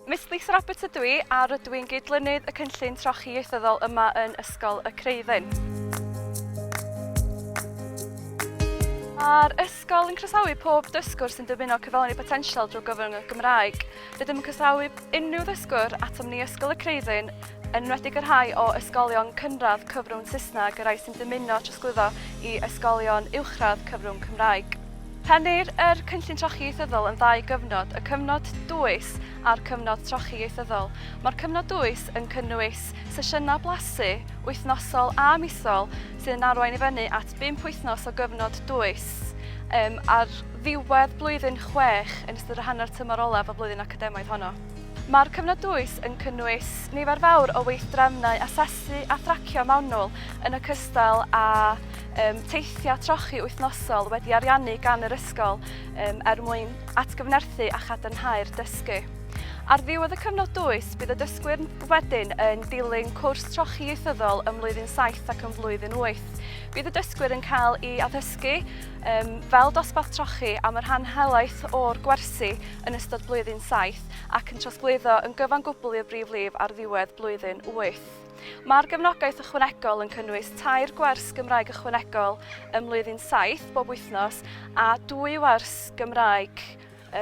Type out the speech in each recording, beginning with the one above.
Miss Lisa Roberts ydw i a rydw i'n gydlynydd y cynllun trochi ieithyddol yma yn Ysgol y Creuddyn. Mae'r ysgol yn croesawu pob dysgwr sy'n dymuno cyflawni potensial drwy gyfrwng y Gymraeg. Rydym yn croesawu unrhyw ddysgwr atom ni Ysgol y Creuddyn, yn enwedig y rhai o ysgolion cynradd cyfrwng Saesneg, y rhai sy'n dymuno trosglwyddo i ysgolion uwchradd cyfrwng Cymraeg. Rhennir yr Cynllun Trochi Ieithyddol yn ddau gyfnod, y cyfnod dwys a'r cyfnod trochi ieithyddol. Mae'r cyfnod dwys yn cynnwys sesiynau blasu wythnosol a misol sydd yn arwain i fyny at bump wythnos o gyfnod dwys um, a'r ddiwedd blwyddyn chwech yn ystod y hanner tymor olaf y flwyddyn academaidd honno. Mae'r cyfnod dwys yn cynnwys nifer fawr o weithdrefnau asesu a thracio mewnol yn y cystal a um, teithiau trochi wythnosol wedi ariannu gan yr ysgol um, er mwyn atgyfnerthu a chadarnhau'r dysgu. Ar ddiwedd y cyfnod dwys, bydd y dysgwyr wedyn yn dilyn cwrs trochi ieithyddol ym mlwyddyn 7 ac ym mlwyddyn 8. Bydd y dysgwyr yn cael ei addysgu Yym, fel dosbarth trochi am y rhan helaeth o'r gwersi yn ystod blwyddyn saith ac yn trosglwyddo yn gyfan gwbl i'r brif lif ar ddiwedd blwyddyn wyth. Mae'r gefnogaeth ychwanegol yn cynnwys tair gwers Gymraeg ychwanegol ym mlwyddyn saith bob wythnos a dwy wers Gymraeg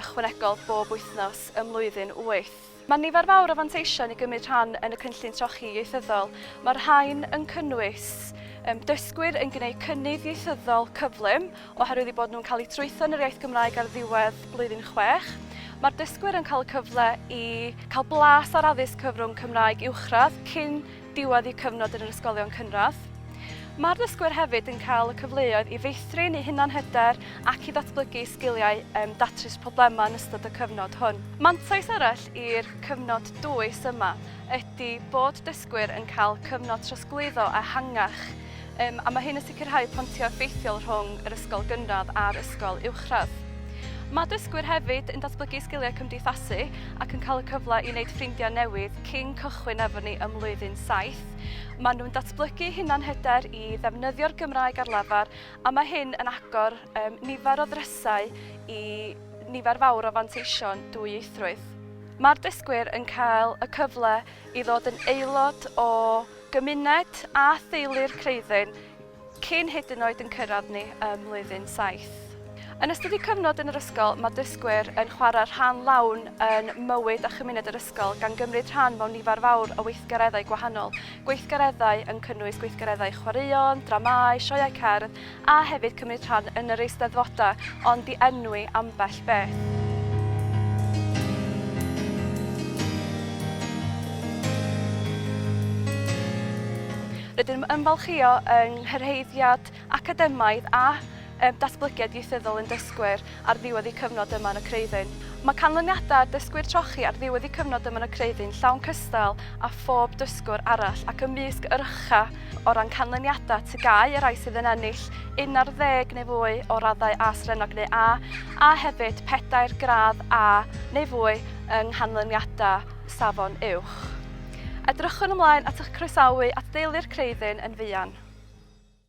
ychwanegol bob wythnos ym mlwyddyn wyth. Mae nifer fawr o fanteision i gymryd rhan yn y Cynllun Trochi Ieithyddol. Mae'r rhain yn cynnwys um, dysgwyr yn gwneud cynnydd ieithyddol cyflym oherwydd eu bod nhw'n cael eu trwytho yn yr iaith Gymraeg ar ddiwedd blwyddyn chwech. Mae'r dysgwyr yn cael y cyfle i cael blas ar addysg cyfrwng Cymraeg uwchradd cyn diwedd eu cyfnod yn yr ysgolion cynradd. Mae'r dysgwyr hefyd yn cael y cyfleoedd i feithrin eu hunanhyder ac i ddatblygu sgiliau um, datrys problemau yn ystod y cyfnod hwn. Mantais arall i'r cyfnod dwys yma ydy bod dysgwyr yn cael cyfnod trosglwyddo ehangach Yym, a mae hyn yn sicrhau pontio effeithiol rhwng yr ysgol gynradd a'r ysgol uwchradd. Mae dysgwyr hefyd yn datblygu sgiliau cymdeithasu ac yn cael y cyfle i wneud ffrindiau newydd cyn cychwyn efo ni ym mlwyddyn saith. Maen nhw'n datblygu hunanhyder i ddefnyddio'r Gymraeg ar lafar a mae hyn yn agor um, nifer o ddrysau i nifer fawr o fanteision dwyieithrwydd. Mae'r dysgwyr yn cael y cyfle i ddod yn aelod o Gymuned a theulu'r Creuddyn cyn hyd yn oed yn cyrraedd ni ym Mlwyddyn Saith. Yn ystod eu cyfnod yn yr ysgol, mae dysgwyr yn chwarae rhan lawn yn mywyd a chymuned yr ysgol, gan gymryd rhan mewn nifer fawr o weithgareddau gwahanol, gweithgareddau yn cynnwys gweithgareddau chwaraeon, dramâu, sioeau cerdd, a hefyd cymryd rhan yn yr Eisteddfodau ond i enwi ambell beth. Rydym yn ymfalchïo yng nghyrhaeddiad academaidd a datblygiad ieithyddol ein dysgwyr. ar ddiwedd y cyfnod yma yn y Creuddyn. Mae canlyniadau ar ddysgwyr trochi ar ddiwedd y cyfnod yma yn y Creuddyn llawn cystal â phob dysgwr arall ac ymysg yr ucha o ran canlyniadau TGAU y rhai sydd yn ennill 11 neu fwy o raddau A Srennog neu A a hefyd pedair gradd A neu fwy yng nghanlyniadau Safon Uwch. Edrychwn ymlaen at eich croesawu at deulu'r Creuddyn yn fuan.